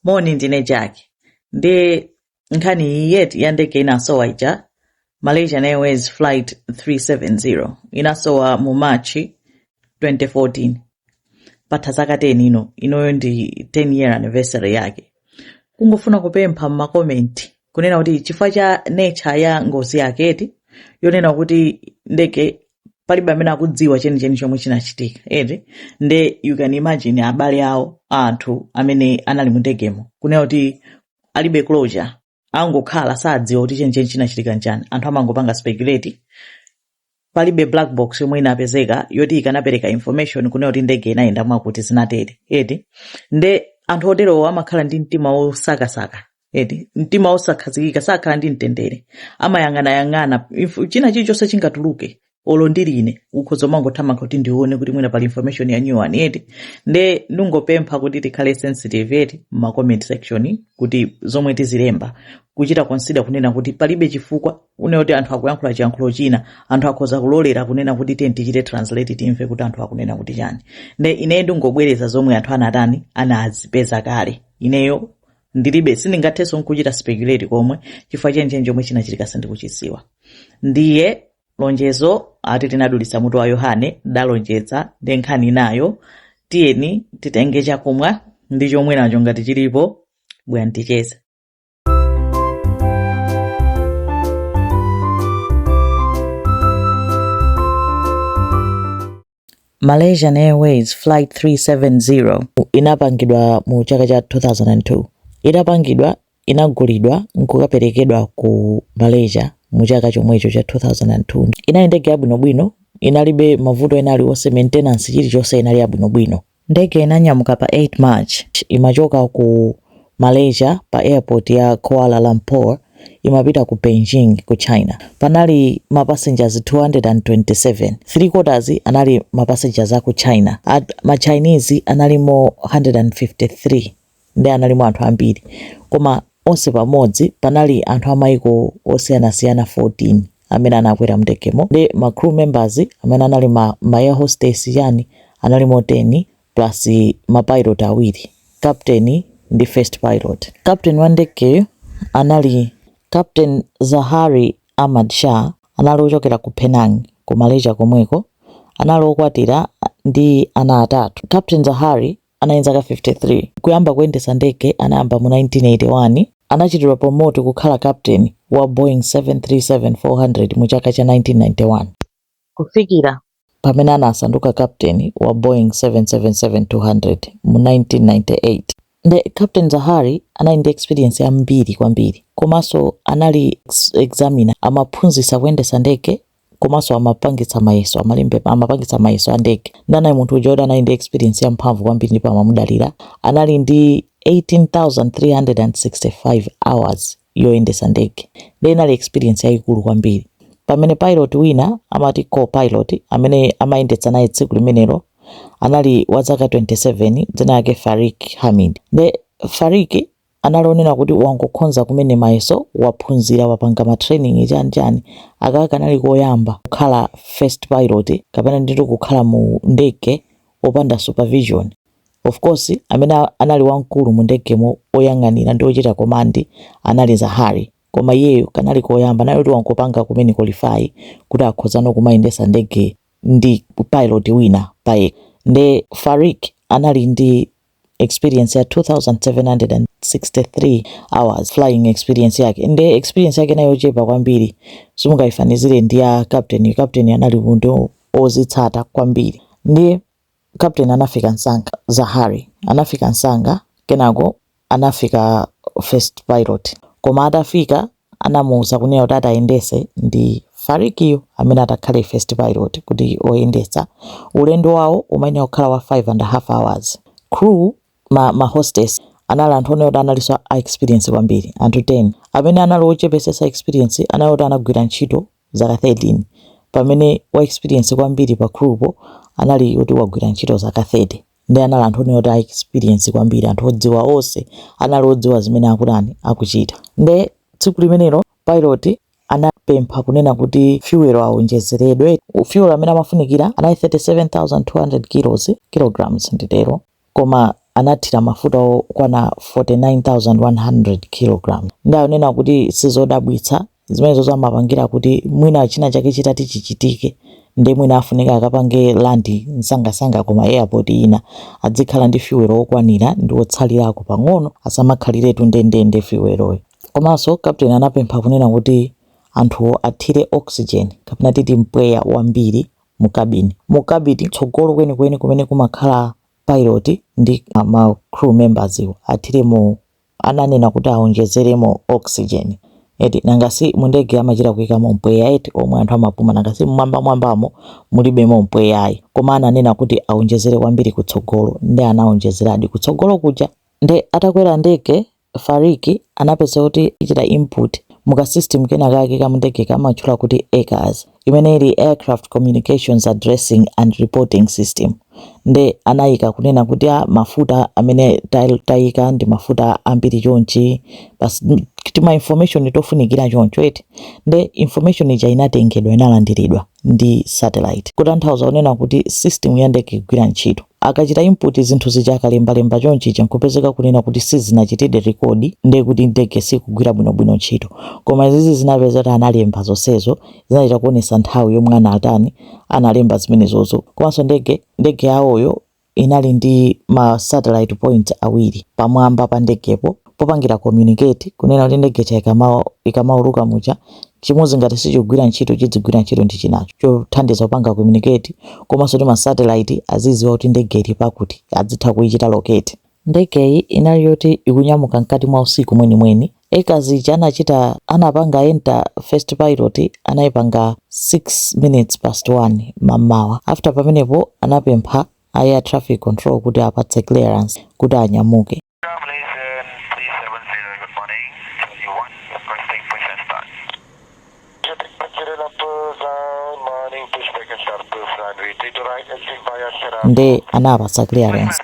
moni ndine jack ndi nkhani iyi ya ndege inasowa ija malaysian airways flight 370 inasowa mu march 2014 patha zaka 10 ino inoyo ndi 10 year anniversary yake kungofuna kupempha m'makomenti kunena kuti chifukwa cha nature ya ngozi yake eti yonena kuti ndege palibe amene akudziwa chenicheni chomwe chinachitika eti nde you can imagine abale awo a anthu amene anali mu ndegemo kunena kuti alibe closure angokhala sadziwa kuti chenicheni chinachitika nchani anthu amangopanga speculate palibe black box yomwe inapezeka yoti ikanapereka information kunena kuti ndege inayenda mwakuti zinatere eti nde anthu oterowo amakhala ndi mtima wosakasaka eti mtima wosakhazikika sakhala ndi mtendere amayang'anayang'ana Inf- china chilichonse chingatuluke olo ndili ine ukhoza umangothamanga kuti ndione kuti mwina pali information ya new one eti nde ndingopempha kuti tikhale sensitive eti ma comment section kuti zomwe tizilemba kuchita consider kunena kuti palibe chifukwa une kuti anthu akuyankhula chiyankhulo china anthu akhoza kulolera kunena kuti tiye tichite translate timve kuti anthu akunena kuti chani nde ineyo ndingobwereza zomwe anthu anatani anazipeza kale ineyo ndilibe sindingathenso nkuchita speculate komwe chifukwa chenicheni chomwe chinachitika sindikuchidziwa ndiye lonjezo ati linadulitsa mutu wa yohane ndalonjeza nde nkhani inayo tiyeni titenge chakumwa ndi chomweracho ngati chilipo bwera ticheze Malaysian Airways Flight 370 inapangidwa mu chaka cha 2002. Itapangidwa, inagulidwa n'kukaperekedwa ku Malaysia mu chaka chomwecho cha 2002. Inali ndege yabwinobwino, inalibe mavuto ena aliwonse, maintenance, chilichonse inali yabwinobwino. Ndege inanyamuka pa 8 March imachoka ku Malaysia pa airport ya Kuala Lumpur imapita ku Beijing ku China. Panali ma passengers 227, three quarters anali ma passengers aku China, ma Chinese analimo 153. ndiye analimo anthu ambiri, koma onse pamodzi panali anthu amayiko osiyanasiyana 14 amene anakwera mndegemo ndi ma crew members amene anali ma, ma air hostess chani analimo 10 plus ma pilot awiri captain ndi first pilot. Captain wa ndegeyo anali Captain Zahari Ahmad Shah anali ochokera ku Penang ku Malaysia komweko anali okwatira ndi ana atatu. Captain Zahari anali ndi zaka 53. Kuyamba kuyendetsa ndege anayamba mu 1981. Anachitidwa promote kukhala captain wa Boeing 737-400 mu chaka cha 1991. Kufikira pamene anasanduka captain wa Boeing 777-200 mu 1998. Nde Captain Zaharie anali ndi experience yambiri kwambiri komanso anali examiner amaphunzitsa kuyendetsa ndege komanso amapangitsa mayeso amapangitsa mayeso a ndege nde anali munthu uja woti anali ndi experience ya mphamvu kwambiri ndipo amamudalira anali ndi 18365 hours yoyendesa ndege nde inali experience yayikulu kwambiri pamene pilot wina amati co-pilot amene amayendetsa naye tsiku limenelo anali wa zaka 27 dzina lake farik hamid nde farik anali onena kuti wangokhonza kumene mayeso waphunzira wapanga ma training chani chani akaka kanali koyamba kukhala first pilot kapena nditu kukhala mu ndege opanda supervision of course amene anali wamkulu mu ndegemo oyang'anira ndi ochita command anali zahari koma iyeyo kanali koyamba anali kuti wangopanga kumene qualify kuti akhoza no kumayendesa ndege ndi pilot wina payekha nde farik anali ndi experience ya 2763 hours flying experience yake nde experience yake inali yochepa kwambiri simungayifanizire ndi ya captain captain anali munthu ozitsata kwambiri ndiye captain anafika msanga zahari anafika msanga kenako anafika first pilot koma atafika anamuuza kunena kuti atayendese ndi Farikiyo amene atakhale first pilot kuti oyendetsa ulendo wawo umayenera kukhala wa 5 and half hours crew ma hostess anali anthu onena kuti analinso a experience kwambiri anthu 10 amene anali ochepesesa experience anali oti anagwira ntchito zaka 13 pamene wa experience kwambiri pa crew po anali oti wagwira ntchito zaka 30 nde anali anthu onena kuti a experience kwambiri anthu odziwa onse anali odziwa zimene akutani akuchita nde tsiku limenelo pilot anapempha kunena kuti fuel awonjezeredwe fuel amene amafunikira anali 37200 kilos kilograms nditero koma anathira mafuta okwana 49100 kilograms nde anena kuti sizodabwitsa Zimenezo amapangira kuti mwina china chake chitati chichitike nde mwina afunika akapange land msangasanga ku ma airport ina adzikhala ndi fuel wokwanira ndi wotsalirako pang'ono asamakhaliretu ndendende fuel'yo. Komanso Captain anapempha kunena kuti anthu athire oxygen kapena titi mpweya wambiri mu cabin. Mu cabin kutsogolo kwenikweni kumene kumakhala pilot ndi ma crew members wo athiremo ananena kuti awonjezeremo oxygen eti nanga si mundege amachita kuikamo mpweya eti omwe anthu amapuma nanga si mmwambamwambamo mulibemo mpweyayi koma ananena kuti awonjezere kwambiri kutsogolo nde anawonjezeradi kutsogolo kuja nde atakwera ndege Fariq anapeza kuti achita input mu ka system kenakake ka mundege kamatchula kuti ACARS imene ili Aircraft Communications Addressing and Reporting System nde anayika kunena kuti a ah, mafuta amene tayika ndi mafuta ambiri chonchi basi tima information tofunikira choncho eti nde information ija inatengedwa inalandiridwa ndi satellite kutanthauza kunena kuti system ya ndege ikugwira ntchito Akachita input zinthu zija akalembalemba chonchija nkupezeka kunena kuti sizinachitidi record nde kuti ndege sikugwira bwinobwino ntchito. Koma izizi zinapeza kuti analemba zonsezo zinachita kuonesa nthawi yomwe anatani analemba zimenezozo komanso ndege ndege yawoyo inali ndi ma satellite point awiri pamwamba pa ndegepo. popangira communicate kunena kuti ndege ija ikamau ikamauluka muja chimodzi ngati sichikugwira ntchito chidzigwira ntchito ndi chinacho chothandiza kupanga communicate komanso kuti masatellite azidziwa kuti ndege ili pakuti adzitha kuichita locate ndegeyi inali yoti ikunyamuka mkati mwa usiku mwenimweni ACARS anachita anapanga enter first pilot anayipanga 6 minutes past 1 mamawa after pamenepo anapempha a air traffic control kuti apatse clearance kuti anyamuke nde anawapatsa clearance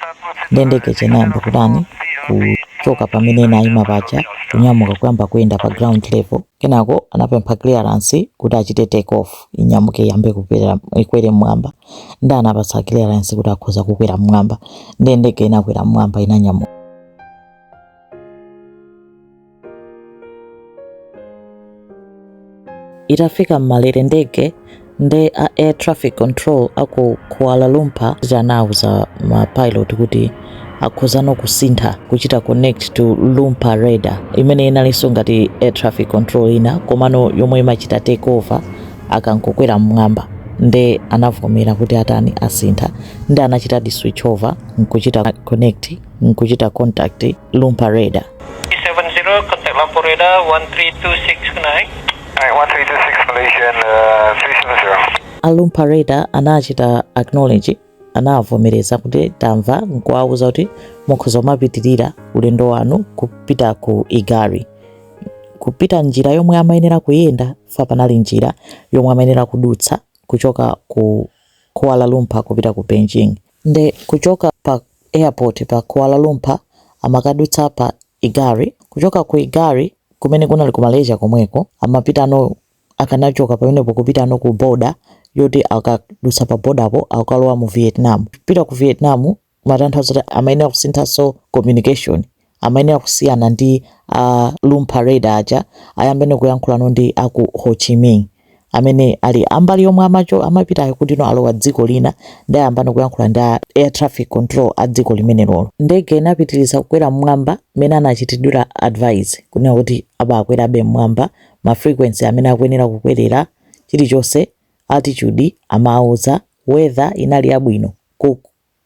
nde ndege ija inayamba kutani kuchoka pamene inayima paja kunyamuka kuyamba kuyenda pa ground level kenako anapempha clearance kuti achite take off inyamuke iyambe kukwera ikwere mmwamba Nde anawapatsa clearance kuti akhoza kukwera mmwamba. Nde ndege inakwera mmwamba inanyamuka. Itafika mmalere ndege nde a air traffic control aku Kuala Lumpur anauza ma pilot kuti akhozano kusintha kuchita connect to Lumpur radar imene inalinso ngati air traffic control ina komano yomwe imachita take over akangokwera mmwamba nde anavomera kuti atani asintha nde anachitadi switch over nkuchita connect nkuchita contact Lumpur radar 370, contact Lumpur Radar 1326 good night. Night, 1326 Malaysian uh, 370. a Lumpur radar anachita acknowledge anawavomereza kuti tamva nkuwauza kuti mukhoza kumapitirira ulendo wanu kupita ku igari kupita njira yomwe amayenera kuyenda fa panali njira yomwe amayenera kudutsa kuchoka ku kuala lumpur kupita ku beijing nde kuchoka pa airport pa kuala lumpur amakadutsa pa igari kuchoka ku igari kumene kunali ku malaysia komweko amapitano akanachoka pamenepo kupitano ku border yoti akadutsa pa border po akalowa mu Vietnam pita ku Vietnam matanthauza kuti amayenera kusinthanso communication amayenera kusiyana ndi a Lumpur radar aja ayambene kuyankhulano ndi aku Ho Chi Minh amene ali ambali yomwe amacho amapitayo kuti no alowa dziko lina nde ayambano kuyankhula ndi air traffic control a dziko limenelolo ndege inapitiriza kukwera mmwamba mmene anachitidwira advise kunena kuti abakwerabe mmwamba ma frequency amene akuyenera kukwerera chilichonse altitude amawauza weather inali yabwino ku,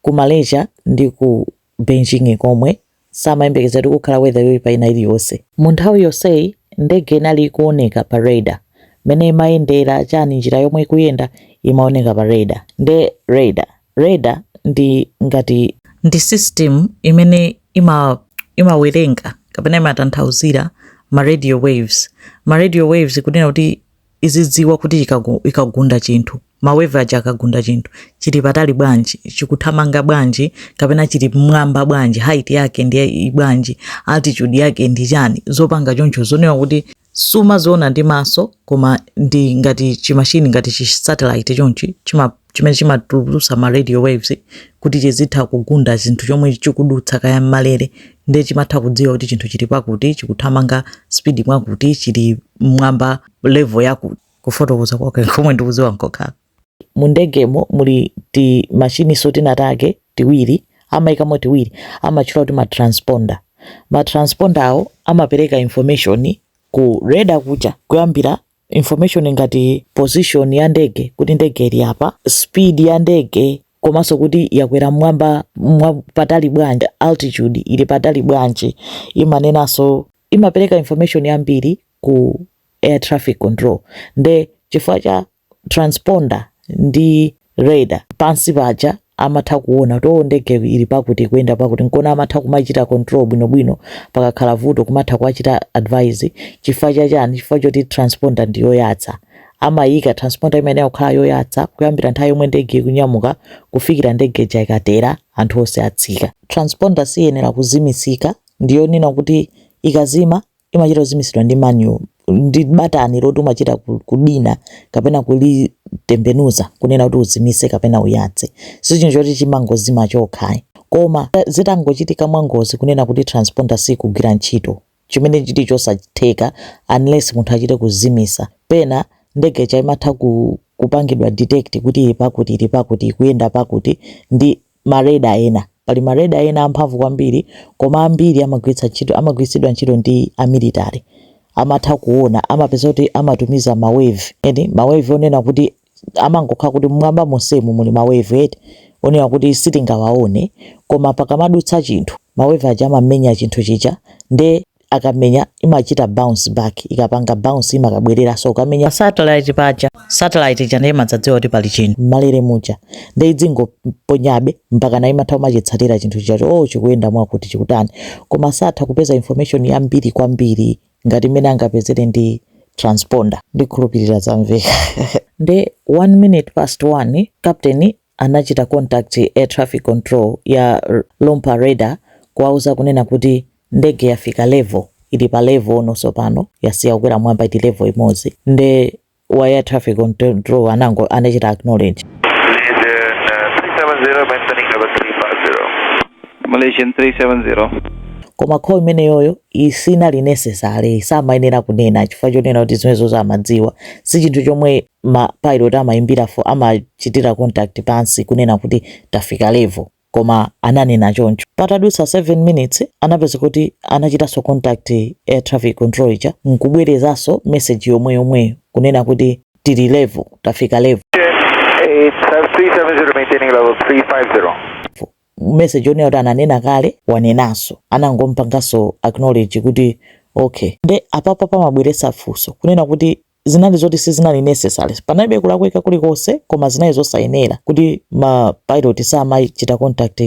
ku Malaysia ndi ku Beijing komwe samayembekeza kuti kukhala weather yoyipa ina iliyonse mu nthawi yonseyi ndege inali ikuoneka pa radar mene imayendera chani njira yomwe ikuyenda imaoneka pa radar nde radar Radar ndi ngati. Ndi system imene ima imawerenga kapena imatanthauzira ma radio waves. Ma radio waves kunena kuti izidziwa kuti ikagu ikagunda chinthu, ma wave aja akagunda chinthu, chili patali bwanji, chikuthamanga bwanji kapena chili mmwamba bwanji, height yake ndi bwanji, altitude yake ndi chani, zopanga choncho zonena kuti sumaziona ndi maso koma ndi ngati chimashini ngati chi satellite chonchi chima chimene chimatulutsa ma radio waves kuti chizitha kugunda chinthu chomwe chikudutsa kaya mmalere nde chimatha kudziwa kuti chinthu chili pakuti chikuthamanga speed mwakuti chili mwamba level yakuti kufotokoza kwake komwe ndikudziwa nkokhala mu ndegemo muli ti machine so tinatake tiwiri amaikamo tiwiri amatchula kuti ma transponder ma transponder awo amapereka information ku radar kuja kuyambira information ngati position ya ndege kuti ndege ili apa speed ya ndege komanso kuti yakwera mwamba mwa patali bwanji altitude ili patali bwanji imanenanso imapereka information yambiri ku air traffic control nde chifukwa cha transponder ndi radar pansi paja amatha kuona kuti oh ndege ili pakuti ikuyenda pakuti nkona amatha kumaichita control bwinobwino pakakhala vuto kumatha kuwachita advise chifukwa cha chani chifukwa choti transponder ndi yoyatsa amayika transponder imeneyo kukhala yoyatsa kuyambira nthawi yomwe ndege ikunyamuka kufikira ndege ija ikatera anthu onse atsika transponder siyenera kuzimisika ndiyonena kuti ikazima imachita kuzimitsidwa ndi manual ndi batani loti umachita ku- kudina kapena kulitembenuza kunena kuti uzimitse kapena uyatse si chinthu choti chimangozima chokha koma zitangochitika mwangozi kunena kuti transponder sikugwira ntchito chimene chili chosatheka unless munthu achite kuzimitsa pena ndege chaimatha ku, kupangidwa detect kuti ili pakuti ili pakuti ikuyenda pakuti ndi ma radar ena. Pali ma radar ena amphamvu kwambiri koma ambiri amagwiritsa ntchito amagwiritsidwa ntchito ndi a military. Amatha kuona amapeza kuti amatumiza ma wave eti ma wave onena kuti amangokhala kuti mmwamba monsemu muli ma wave eti onena kuti sitingawaone koma pakamadutsa chinthu ma wave aja amamenya chinthu chija nde akamenya imachita bounce back ikapanga bounce imakabwereranso ukamenya pa satellite paja satellite ija nde imadzadziwa kuti pali chinthu mmalere muja nde idzingoponyabe mpaka na imatha kumachitsatira chinthu chichacho o oh, chikuyenda mwakuti chikutani koma satha kupeza information yambiri kwambiri ngati mmene angapezere ndi transponder ndikhulupirira zamveka nde 1 minute past 1 captain anachita contact air traffic control ya Lumpur Radar kuwauza kunena kuti ndege yafika level ili pa level no tsopano yasiya kukwera mwamba ili level imodzi nde wa air traffic control anango anachita acknowledge Malaysian 370. koma call imeneyoyo isinali necessary samayenera kunena chifukwa chonena kuti zimenezo amadziwa si chinthu chomwe ma pilot amaimbira for amachitira contact pansi kunena kuti tafika level koma ananena choncho patadutsa 7 minutes anapeza kuti anachitanso contact air traffic control ija nkubwerezanso message yomwe yomweyo kunena kuti tili level tafika level message yonena kuti ananena kale wanenanso anangompanganso acknowledge kuti okay nde apapa pamabweretsa funso kunena kuti zinali zoti sizinali necessary panalibe kulakwika kulikonse koma zinali zosayenera kuti ma pilot samachita contact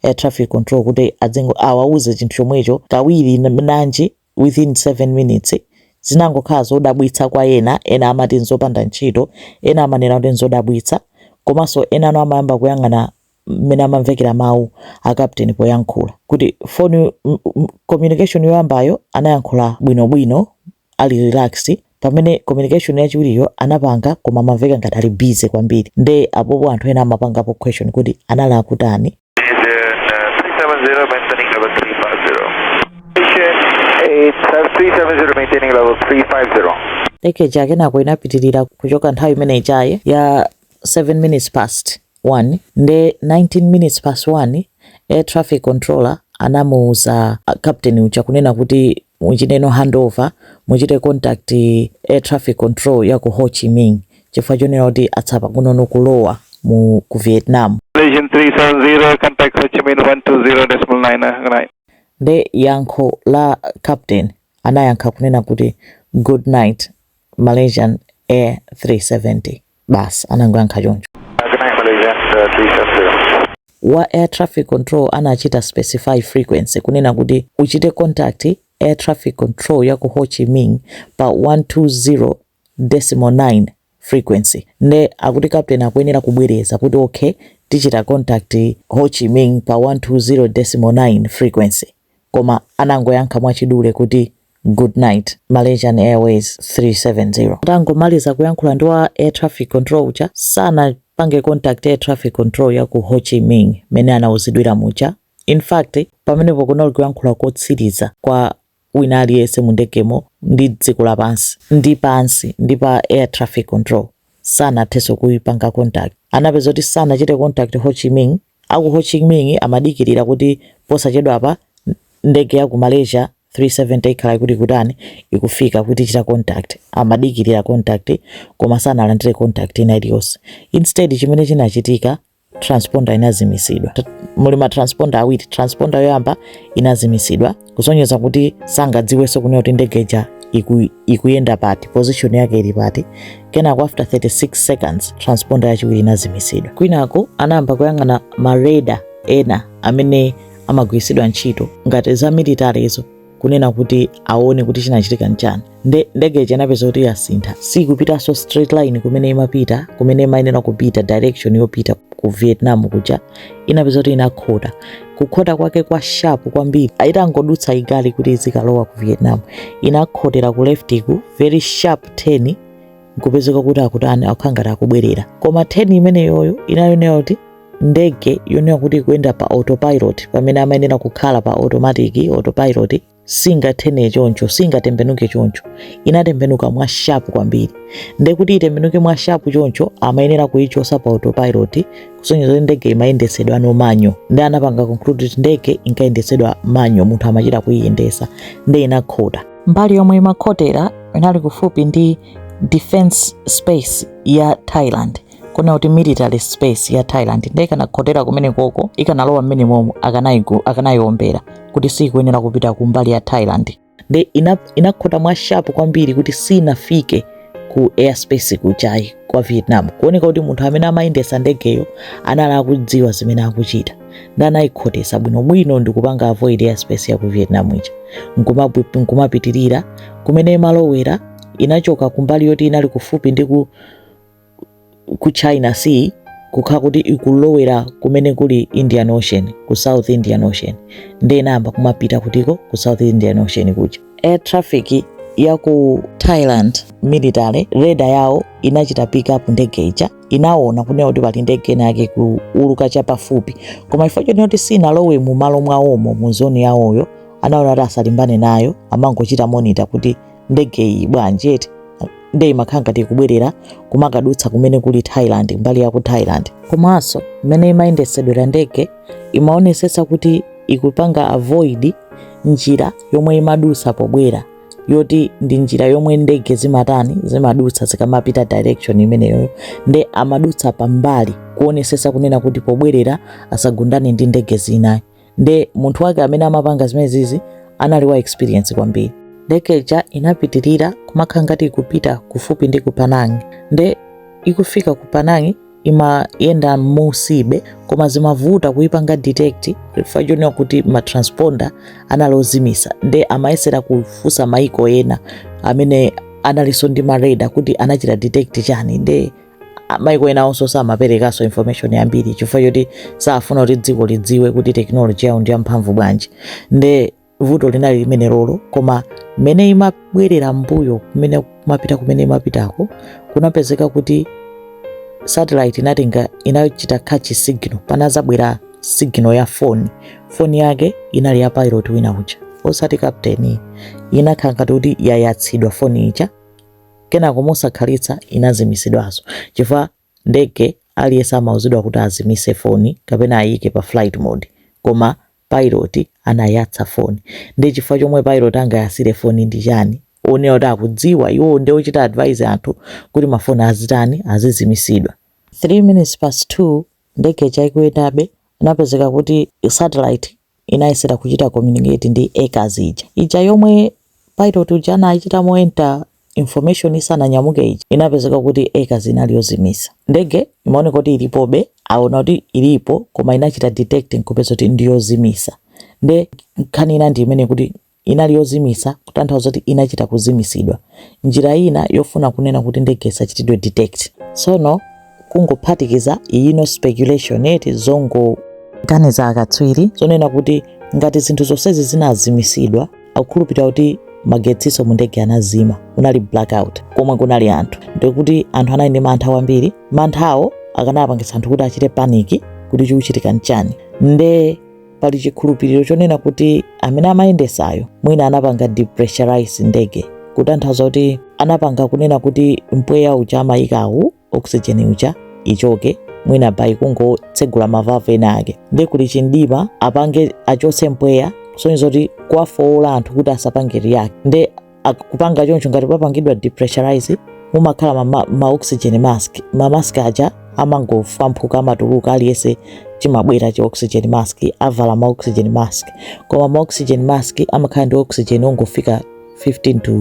air traffic control kuti awauze chinthu chomwecho kawiri nanji within 7 minutes zinangokhala zodabwitsa kwa ena ena amati nzopanda ntchito ena amanena kuti nzodabwitsa komanso enano amayamba kuyang'ana mmene amamvekera mawu a captain poyankhula kuti on communication yoyambayo anayankhula bwinobwino ali relax pamene communication yachiwiriyo anapanga koma amamveka ngati ali busy kwambiri nde apopo anthu ena amapangapo question kuti anali akutani ndege ija kenako inapitirira kuchoka nthawi imene ijayi ya 7 minutes past 1 nde 19 minutes past 1 air traffic controller anamuuza captain uja kunena kuti muchiteno handover muchite contact air traffic control ya ku Ho Chi Minh chifukwa chonena kuti atsala pang'ono kulowa mu ku Vietnam Malaysian 370 contact Ho Chi Minh 120.9 good night nde yankho la captain anayankha kunena kuti good night Malaysian Air 370 basi anangoyankha choncho. Wa air traffic control anachita specify frequency kunena kuti uchite contact air traffic control ya ku Ho Chi Minh pa 120.9 frequency nde akuti captain akuyenera kubwereza kuti okay tichita contact Ho Chi Minh pa 120.9 frequency koma anangoyankha mwachidule kuti Good night, Malaysian Airways 370. Atangomaliza kuyankhula ndi wa air traffic control uja, sanapange contact air traffic control ya ku Ho Chi Minh mmene anauzidwira muja. In fact, pamenepo kunali kuyankhula kotsiriza kwa wina aliyense mu ndegemo ndi dziko lapansi ndi pansi ndi pa air traffic control. Sanathenso kuipanga contact. Anapeza kuti sanachite contact Ho Chi Minh A ku Ho Chi Minh amadikirira kuti posachedwapa ndege ya ku Malaysia 370 ikhala ikuti ikutani, ikufika, kuti ichita contact. Amadikirira contact koma sanalandire contact ina iliyonse. Instead chimene chinachitika, transponder inazimitsidwa. Muli ma transponder awiri, transponder yoyamba inazimitsidwa. kusonyeza kuti sangadziwenso kunena kuti ndege ija iku, ikuyenda pati position yake ili pati kenako after 36 seconds transponder yachiwiri inazimitsidwa kwinako anayamba kuyang'ana ma radar ena amene amagwiritsidwa ntchito ngati za military zo kunena kuti aone kuti chinachitika nchani nde ndege ija inapeza kuti yasintha sikupitanso straight line kumene imapita kumene imayenera kupita direction yopita ku vietnam kuja inapeza kuti inakhota kukhota kwake kwa sharp kwambiri itangodutsa IGARI kuti izikalowa ku vietnam inakhotera ku left ku very sharp turn nkupezeka kuti akutani akukhala ngati akubwerera koma turn imeneyoyo inayonera kuti ndege yonena kuti ikuyenda pa autopilot pamene amayenera kukhala pa automatic autopilot singathene choncho singatembenuke choncho inatembenuka mwa sharp kwambiri nde kuti itembenuke mwa sharp choncho amayenera kuyichosa pa autopilot kusonyeza kuti ndege imayendetsedwano manual nde anapanga conclude kuti ndege inkayendetsedwa manual munthu amachita kuyiyendesa nde inakhota mbali yomwe imakhotera inali kufupi ndi defense space ya thailand kuona kuti military space ya thailand nde ikanakhotera kumenekoko ikanalowa mmene momo akanayiombera kuti siikuyenera kupita kumbali ya thailand nde inakhota mwa sharp kwambiri kuti sinafike ku airspace kujayi kwa vietnam kuoneka kuti munthu amene amayendesa ndegeyo anali akudziwa zimene akuchita nde anayikhotesa bwinobwino ndikupanga avoid airspace ya ku vietnam ija nkumapitirira kumene imalowera inachoka kumbali yoti inali kufupi ndi ku ku china sea kukhala kuti ikulowera kumene kuli indian ocean ku south indian ocean ndiye inayamba kumapita kutiko ku south indian ocean kuja air traffic ya ku thailand military radar yawo inachita pick up ndege ija inaona kunena kuti pali ndege ina yake kuuluka chapafupi koma chifukwa chonena kuti sinalowe mu malo mwawomo mu zone yawoyo anaona kuti asalimbane nayo amangochita monitor kuti ndege iyi bwanji eti nde imakhala ngati ikubwerera kumakadutsa kumene kuli Thailand mbali ya ku Thailand komanso mmene imayendetsedwera ndege imaonesetsa kuti ikupanga avoid njira yomwe imadutsa pobwera yoti ndi njira yomwe ndege zimatani zimadutsa zikamapita direction imeneyoyo nde amadutsa pambali kuonesetsa kunena kuti pobwerera asagundane ndi ndege zinayi nde munthu wake amene amapanga zimenezizi anali wa experience kwambiri ndege ija inapitirira kumakhala ngati ikupita kufupi ndi ku Penang nde ikufika ku Penang imayenda mmunsibe koma zimavuta kuipanga detect chifukwa chonena kuti matransponder anali ozimisa nde amayesera kufunsa maiko ena amene analinso ndi maradar kuti anachita detect chani nde a- maiko enawonso samaperekanso information yambiri chifukwa choti safuna kuti dziko lidziwe kuti tekinoloji yawo ndi yamphamvu bwanji nde vuto linali limenelolo koma mmene imabwerera mbuyo kumene kumapita kumene imapitako kunapezeka kuti satellite inatenga inachita catch signal panazabwera signal ya foni foni yake inali ya pilot wina uja osati captain inakhala ngati kuti yayatsidwa foni ija Kenako mosakhalitsa inazimitsidwanso chifukwa mundege aliyense amauzidwa kuti azimitse foni kapena ayiike pa flight mode. Koma pilot anayatsa foni. Ndiye chifukwa chomwe pilot angayatsire foni ndi chani? Onena kuti akudziwa iwo ndi ochita advise anthu kuti mafoni azitani, azizimitsidwa. 3 minutes past 2 ndege ija ikuyendabe, inapezeka kuti satellite inayesera kuchita communicate ndi ACARS ija. Ija yomwe pilot uja anachitamo enter information isananyamuke ija, inapezeka kuti ACARS inali yozimisa. Ndege imaoneka kuti ilipobe, aona kuti ilipo koma inachita detect nkupeza kuti ndiyozimisa. Nde nkhani ina ndi imene kuti Inali yozimitsa, kutanthauza kuti inachita kuzimitsidwa. Njira ina yofuna kunena kuti ndege isachitidwe detect. Tsono kungophatikiza ino speculation eti zongoganiza akatswiri zonena kuti ngati zinthu zonsezi zinazimitsidwa akukhulupirira kuti magetsinso mu ndege anazima, kunali blackout komwe kunali anthu, ndiye kuti anthu anali ndi mantha kwambiri. Manthawo akanapangitsa anthu kuti achite panic kuti chikuchitika nchani nde pali chikhulupiriro chonena kuti amene amayendesayo mwina anapanga depressurize ndege kutanthauza kuti anapanga kunena kuti mpweya uja amayikawu oxygen uja ichoke mwina by kungotsegula mavavu ena ake nde kuli chimdima apange achotse mpweya kusonyeza kuti kuwafowola anthu kuti asapange react nde ak- kupanga choncho ngati papangidwa depressurize mumakhala ma, ma, ma oxygen mask ma mask aja amangofwamphuka amatuluka aliyense chimabwera chi oxygen mask avala ma oxygen mask koma ma oxygen mask amakhala ndi oxygen ongofika 15 to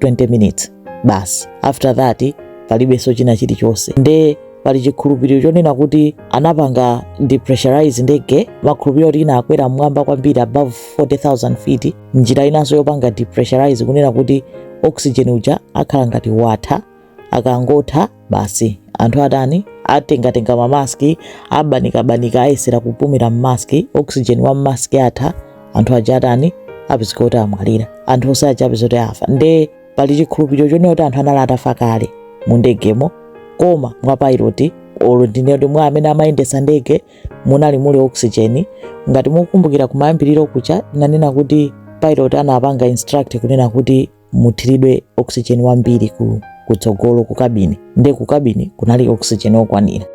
20 minutes basi after that palibenso china chilichonse nde pali chikhulupiriro chonena kuti anapanga depressurize ndege makhulupiriro kuti inakwera mmwamba kwambiri above 40000 feet njira inanso yopanga depressurize kunena kuti oxygen uja akhala ngati watha akangotha basi anthu atani atengatenga mamaski abanikabanika ayesera kupumira mmaski oxygen wa mmaski atha anthu aja atani apezeka kuti amwalira anthu onse aja apezeka kuti afa nde pali chikhulupiriro chonena kuti anthu anali atafa kale mu ndegemo koma mwa pailoti olo ndinene kuti mwa amene amayendesa ndege munali muli oxygen ngati mukukumbukira kumayambiriro kuja nanena kuti pilot anapanga instruct kunena kuti muthiridwe oxygen wambiri ku kutsogolo ku kabini nde ku kabini kunali oxygen okwanira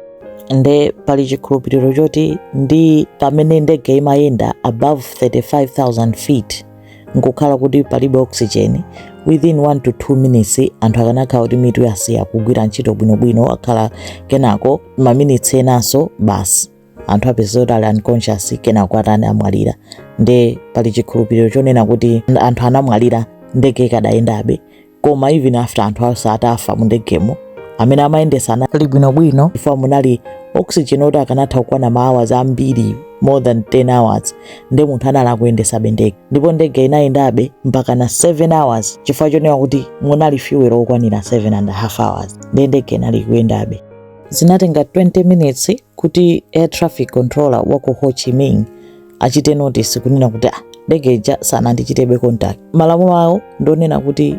nde pali chikhulupiriro choti ndi pamene ndege imayenda above 35000 feet nkukhala kuti palibe oxygen within 1 to 2 minutes anthu akanakhala kuti mitu yasiya kugwira ntchito bwinobwino akhala kenako maminitsi enanso basi anthu apezeka kuti ali unconscious kenako atani amwalira nde pali chikhulupiriro chonena kuti anthu anamwalira ndege ikadayendabe koma even after anthu onse atafa mu ndegemo amene amayendesa anali bwinobwino chifukwa munali oxygen oti akanatha kukwana ma hours ambiri more than 10 hours nde munthu anali akuyendesabe ndege ndipo ndege inayendabe mpaka na 7 hours chifukwa chonena kuti munali fuel okwanira 7 and a half hours nde ndege inali kuyendabe Zinatenga 20 minutes kuti air traffic controller wa ku Ho Chi Minh achite notice kunena kuti ah, ndege ija sanandichitebe contact. Malamulo awo ndonena kuti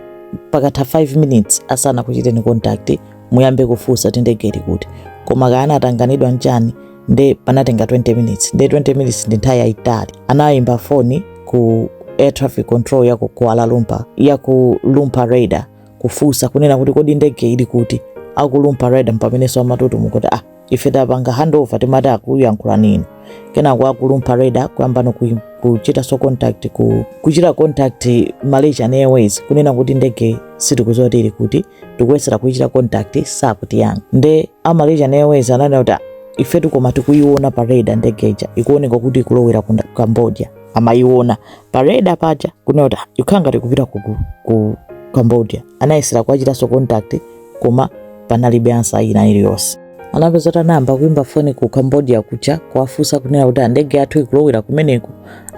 pakatha 5 minutes asanakuchiteni contact muyambe kufunsa kuti ndege ili kuti, koma kaya anatanganidwa nchani nde panatenga 20 minutes nde 20 minutes ndi nthawi yayitali. Anayimba foni ku air traffic control ya ku Kuala Lumpur yaku Lumpur radar kufunsa kunena kuti kodi ndege ili kuti aku Lumpur radar mpamenenso amatutumuka kuti ah ife tapanga handover timati akuyankhulani inuyo kenako aku Lumpur radar kuyambano ku- kuchitanso contact ku, kuchita contact malaysian airways kunena kuti ndege sitikuziwa kuti ili kuti tikuyesera kuichita contact sakutiyankha nde a malaysian airways ananena kuti "Ah, ifetutu koma tikuiona pa radar ndege ija ikuoneka kuti ikulowera ku cambodia amayiona pa radar paja kunena kuti "Ah, ikukhala ngati ikupita ku, ku, ku cambodia anayesera kuwachitanso contact koma panalibe answer ina iliyonse anapeza kuti anayamba kuimba foni ku cambodia kuja kuwafunsa kunena kuti andege yathu ikulowera kumeneko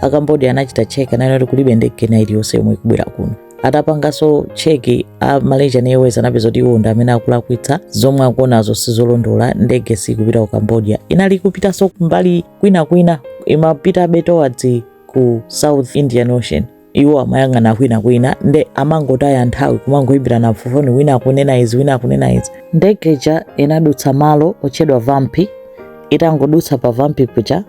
a cambodia anachita check ananena kuti kulibe ndege ina iliyonse yomwe ikubwera kuno atapanganso check a malaysian airways anapeza kuti iwo ndi amene akulakwitsa zomwe akuonazo sizolondola ndege siikupita ku cambodia inali kupitanso mbali kwinakwina imapitabe towards ku south indian ocean iwo amayang'ana kwinakwina nde amangotaya nthawi kumangoimbirana foni wina akunena izi wina akunena izi ndege ija inadutsa malo otchedwa vampi itangodutsa pa vampi kuja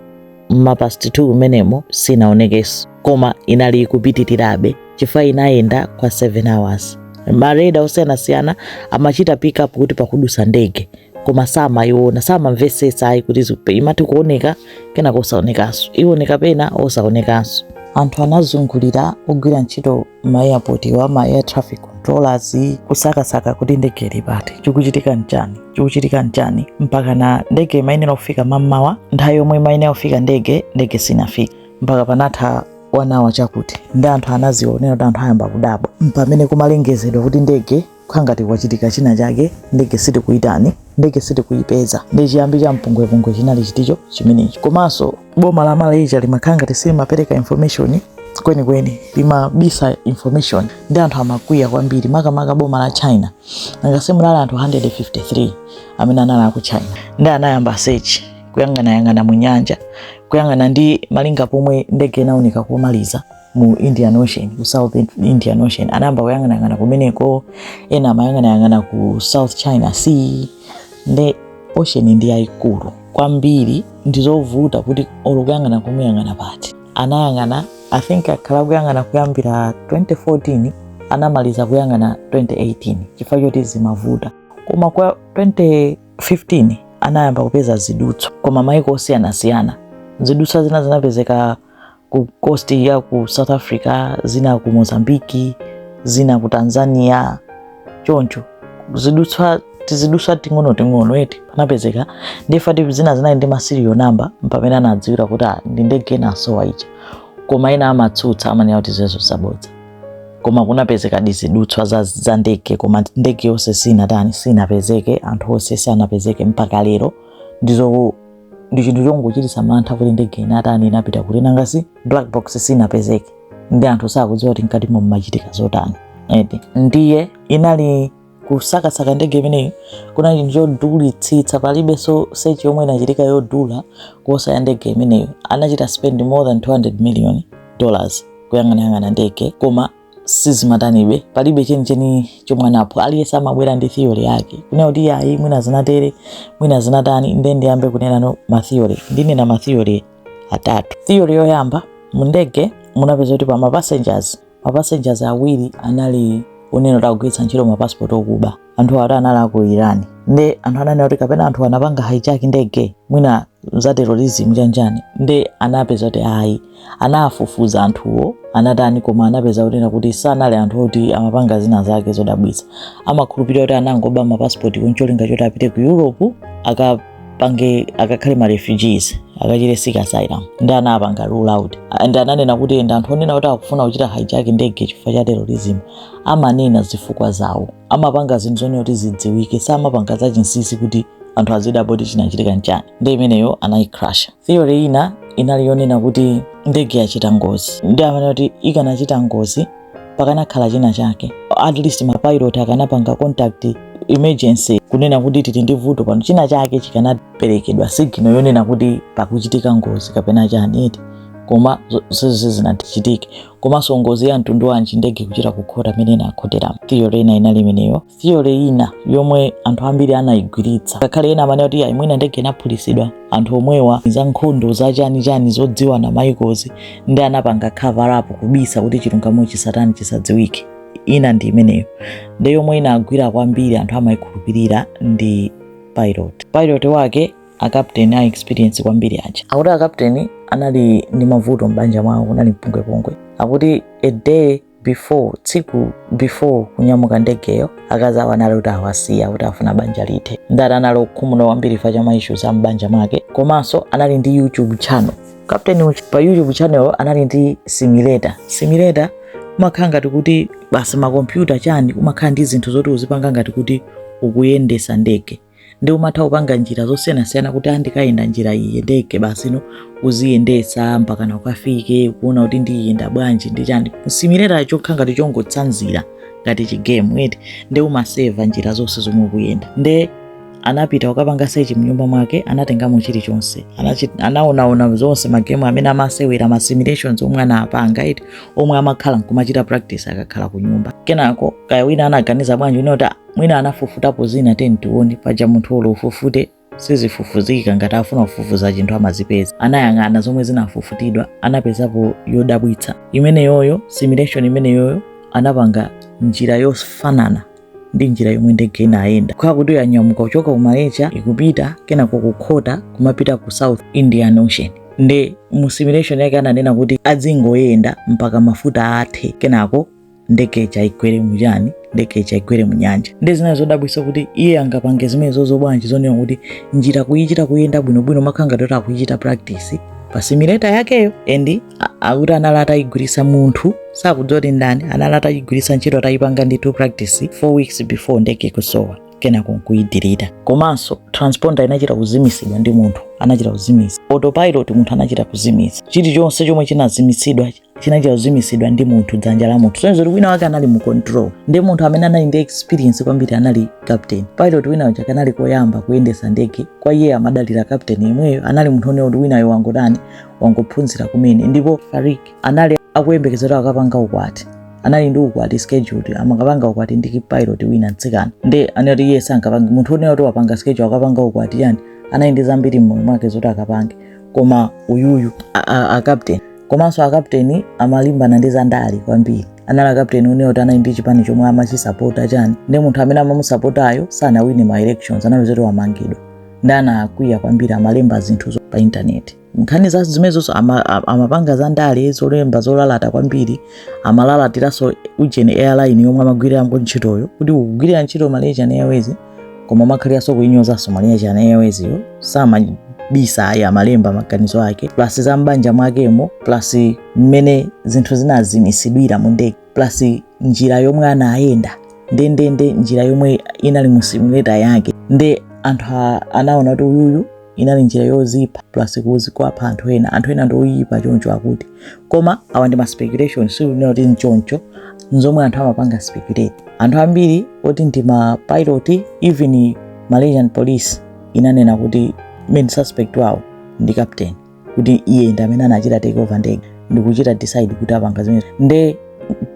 m'ma past 2 umenemo sinaonekenso koma inali ikupitirirabe chifukwa inayenda kwa 7 hours ma radar osiyanasiyana amachita pick up kuti pakudusa ndege koma samayiona samamvetsetsa ayi kuti zikupe- imati kuoneka kenako osaonekanso iwoneka pena osaonekanso anthu anazungulira ogwira ntchito ma airport wa ma air traffic controllers kusakasaka kuti ndege ili pati chikuchitika nchani chikuchitika nchani mpaka na ndege imayenera kufika mammawa nthawi yomwe imayenera kufika ndege ndege sinafika mpaka panatha one hour chakuti nde anthu anaziona kunena kuti anthu ayamba kudabwa mpamene kumalengezedwa kuti ndege kukhala ngati kwachitika china chake ndege sitikuyitani ndege sitikuyipeza nde chiyambi cha mpungwepungwe chinali chiticho chimenechi komanso boma la malaysia limakhala ngati silimapereka information kwenikweni limabisa information nde anthu amakwiya kwambiri makamaka boma la china angase munali anthu 153 amene anali aku china nde anayamba search kuyang'anayang'ana mu nyanja kuyang'ana ndi malinga pomwe ndege inaoneka komaliza mu Indian Ocean, ku South Indian Ocean. Anayamba kuyang'anayang'ana kumeneko, ena amayang'anayang'ana ku South China Sea. Nde ocean ndi yayikulu kwambiri, ndizovuta kuti olo kuyang'ana kumuyang'ana pati. Anayang'ana, I think akhala kuyang'ana kuyambira 2014, anamaliza kuyang'ana 2018 chifukwa choti zimavuta. Koma kwa 2015 anayamba kupeza zidutswa kuma maiko osiyanasiyana. Zidutswa zina zinapezeka ku coast ya ku South Africa, zina ku Mozambiki, zina ku Tanzania, choncho zidutswa tizidutswa ting'ono ting'ono eti panapezeka ndifati zina zinali ndi ma serial number mpamene anadziwira kuti ah, ndi ndege inasowa ija koma ena amatsutsa amanena kuti zimenezo zabodza koma kunapezeka tizidutswa za, za ndege koma ndege yonse sinatani sinapezeke anthu onse sanapezeke mpaka lero ndizo ndi chinthu chongochititsa mantha kuti ndege inatani inapita kuti nanga si black box sinapezeke nde anthu sakudziwa kuti mkatimo mmachitika zotani eti ndiye inali kusakasaka ndege imeneyi kunali chinthu chodulitsitsa palibenso search yomwe inachitika yodula kuposa ya ndege imeneyo anachita spend more than 200 million dollars kuyang'anayang'ana ndege koma sizimatanibe palibe chenicheni chomwe anapo aliyense amabwera ndi theory yake kunena kuti ayi mwina zinatere mwina zinatani nde ndiyambe kunenano matheory ndinena matheory atatu theory yoyamba mundege munapeza kuti pa mapassengers mapassengers awiri anali onena kuti akugwiritsa ntchito mapasipoti okuba anthu awiri anali aku iran nde anthu ananena kuti kapena anthu anapanga hijack ndege mwina za terrorism chanjani nde anapeza kuti ayi anafufuza anthuwo anatani koma anapeza kunena kuti sanali anthu oti amapanga zina zake zodabwitsa amakhulupirira kuti anangoba mapasipoti ncholinga choti apite ku europe akapange akakhale ma refugees akachite seek asylum nde anapanga rule out nde amanena kuti anthu onena kuti akufuna kuchita hijack ndege chifukwa cha terrorism amanena zifukwa zawo amapanga zinthu zonena kuti zidziwike samapanga zachinsinsi kuti anthu azidabwa kuti chinachitika nchani nde imeneyo anayicrasha theory ina inali yonena kuti ndege yachita ngozi nde amanena kuti ikanachita ngozi pakanakhala china chake at least mapilot akanapanga contact emergency kunena kuti tili ndi vuto pano china chake chikanaperekedwa signal yonena kuti pakuchitika ngozi kapena chani eti koma zonsezo sizinachitike komanso ngozi ya mtundu wanji ndege kuchita kukhota mmene inakhoteramo theory ina inali imeneyo theory ina yomwe anthu ambiri anayigwiritsa ngakhale ena amanena kuti ayi mwina ndege inaphulitsidwa anthu omwewa za nkhondo za chani chani zodziwana mayikozi nde anapanga cover up kubisa kuti chilungamo chisatani chisadziwike ina ndi imeneyo nde yomwe inagwira kwambiri anthu amayikhulupirira ndi pilot pilot wake a captain a experience kwambiri aja akuti a captain anali ndi mavuto m'banja mwawo kunali mpungwepungwe akuti a day before tsiku before kunyamuka ndegeyo akazi awo anali kuti awasiya akuti afuna banja lithe nde ati anali okhumudwa kwambiri fa cha maissues a m'banja mwake komanso anali ndi youtube channel captain pa youtube channel anali ndi simulator simulator umakhala ngati kuti basi makompyuta chani umakhala ndi zinthu zoti uzipanga ngati kuti ukuyendesa ndege nde umatha kupanga njira zosiyanasiyana kuti andikayenda njira iyi ndege basi ndi uziyendesa mpaka na ukafike kuona kuti ndiyenda bwanji ndi chani simulator chokhala ngati chongotsanzira ngati chigemu eti nde umaseva njira zonse zomwe ukuyenda nde anapita ukapanga sechi mnyumba mwake anatengamo chilichonse anaonaona zonse magemu amene amasewera ma simulations omwe anapanga eti omwe amakhala nkumachita practice akakhala ku nyumba kenako kaya wina anaganiza bwanji kunoti mwina anafufutapo zina tiyeni tione paja munthu olo ufufute sizifufuzika ngati afuna kufufuza chinthu amazipeza anayang'ana zomwe zinafufutidwa anapezapo yodabwitsa imeneyoyo simulation imeneyoyo anapanga njira yofanana ndi njira yomwe ndege inayenda kukhala kuti yanyamuka kuchoka ku malaysia ikupita kenako kukhota kumapita ku south indian ocean nde mu simulation yake ananena kuti adzingoyenda mpaka mafuta athe kenako ndege ija igwere muchani ndege ija igwere munyanja nde zinali zodabwisa kuti iye angapange zimenezozo bwanji zonena kuti njira kuyichita kuyenda bwinobwino kumakhala ngati akuyichita practice pa simulator yakeyo endi akuti anali atayigwiritsa munthu sakudziwa kuti ndani anali atayigwiritsa ntchito atayipanga ndithu practice four weeks before ndege kusowa kenako nkuyidirita komanso transponder inachita kuzimisidwa ndi munthu anachita kuzimisa autopilot munthu anachita kuzimisa chilichonse chomwe chinazimitsidwa chinachita kuzimitsidwa ndi munthu dzanja la munthu kusonyeza kuti wina wake anali mu control nde munthu amene anali ndi experience kwambiri anali captain pilot wina uja kanali koyamba kuyendesa ndege kwa iye amadalira captain yemweyo anali munthu onena kuti winayo wangotani wangophunzira kumene ndipo fariq anali akuyembekezera akapanga ukwati anali ndi ukwati scheduled amakapanga ukwati ndi pilot wina mtsikana nde anati iye sangapange munthu onena kuti wapanga schedule akapanga ukwati chani anali ndi zambiri mmoyo mwake zoti akapange koma uyuyu a, a, a captain komanso akapteni amalimbana ndi zandale kwambiri anali akapteni onena kuti anali ndi chipani chomwe amachisapota chani nde munthu amene amamusapotayo sanawine ma elections anali zoti wamangidwa nde anakwiya kwambiri amalemba zinthu pa intaneti nkhani za zimenezoso amapanga za ndale zolemba zolalata kwambiri amalalatiranso ujeni airline yomwe amagwirira ntchitoyo kuti ukugwirira ntchito malaysian airways koma umakhaliranso kuinyozanso malaysian airways yo samabisa ayi amalemba maganizo ake plus za m'banja mwakemo plus mmene zinthu zinazimisidwira mu ndege plus njira yomwe anayenda ndendende njira yomwe inali mu simulator yake nde anthu a- anaona kuti uyuyu inali njira yozipha plus plus kuwapha anthu ena anthu ena ndioyipa choncho akuti koma awa ndi ma speculation sikunena kuti nchoncho nzomwe anthu amapanga speculate anthu ambiri oti ndi ma pilot even malaysian police inanena kuti main suspect wawo ndi captain kuti iye ndi amene anachita take over ndege ndikuchita decide kuti apanga zimene nde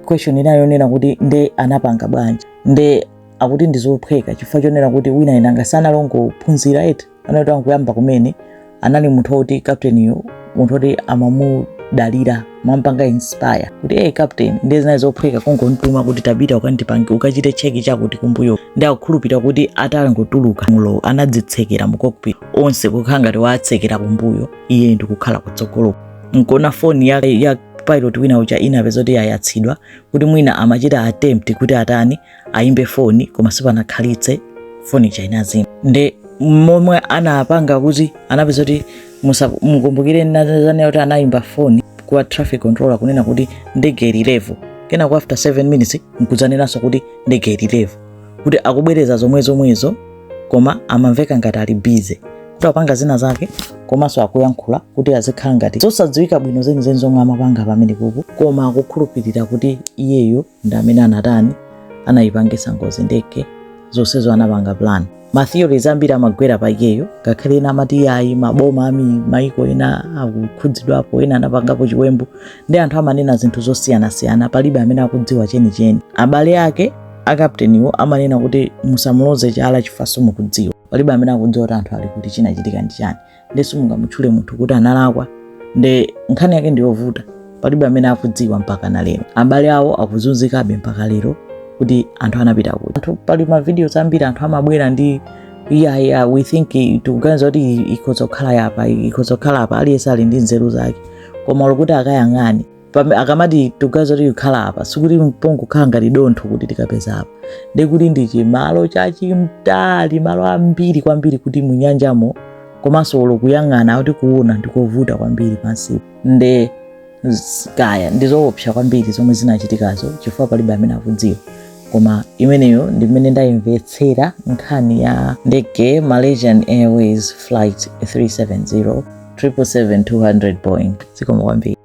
question inayo nonena kuti nde anapanga bwanji nde akuti ndi zophweka chifukwa chonena kuti winanga si anali ongophunzira eti anangoyamba kumene anali munthu woti kapteniyo munthu woti amamudalira amampanga inspire kuti hey captain ndiye zinali zophweka kungomtuma kuti tapita ukandipange ukachite cheki chakuti kumbuyo nde akukhulupirira kuti atangotuluka mulo anadzitsekera mu cockpit onse kukhala ngati waatsekera kumbuyo iye ndikukhala kutsogolo nkona foni ya, ya pilot wina uja inapezeka kuti yayatsidwa kuti mwina amachita attempt kuti atani ayimbe foni koma sipanakhalitse foni ija inazima nde momwe anapanga kuti anapeza kuti mukumbukire ndinadzanena kuti anayimba foni kwa traffic controller kunena kuti ndege ili level kenako after 7 minutes nkudzanenanso kuti ndege ili level kuti akubwereza zomwe zomwezo koma amamveka ngati ali busy kuti apanga zina zake komanso akuyankhula kuti azikhala ngati zosadziwika bwino zenizeni zomwe amapanga pamenepopo koma akukhulupirira kuti iyeyo ndi amene anatani anayipangitsa ngozi ndege zonsezo anapanga plan matheories ambiri amagwera pa iyeyo ngakhale ena amati ayi maboma a maiko ena akukhudzidwapo ena anapangapo chiwembu nde anthu amanena zinthu zosiyanasiyana palibe amene akudziwa chenicheni abale ake akapteniwo amanena kuti musamuloze chala chifukwa simukudziwa palibe amene akudziwa kuti anthu ali kuti chinachitika ndi chani nde simungamutchule munthu kuti analakwa nde nkhani yake ndiyovuta palibe amene akudziwa mpaka na lero abale awo akuzunzikabe mpaka lero kuti anthu anapita kuti anthu pali mavidiyoz ambiri anthu amabwera ndi yeah, yeah, we think i- tikuganiza kuti ikhoza kukhala apa ikhoza kukhala apa aliyense ali ndi nzeru zake komalo kuti akayang'ane pame akamati tikuganiza kuti ikukhala apa sikuti pangokhala ngati dontho kuti tikapeza apa ndi kuti ndi chimalo chachimtali malo ambiri kwambiri kuti munyanjamo komanso olo kuyang'ana kuti kuona ndikovuta kwambiri pansipo nde z- kaya ndi zoopsa kwambiri zomwe zinachitikazo chifukwa palibe amene akudziwa koma imeneyo ndi mmene ndayimvetsera nkhani ya ndege malaysian airways flight 370 777-200 boeing zikomo kwambiri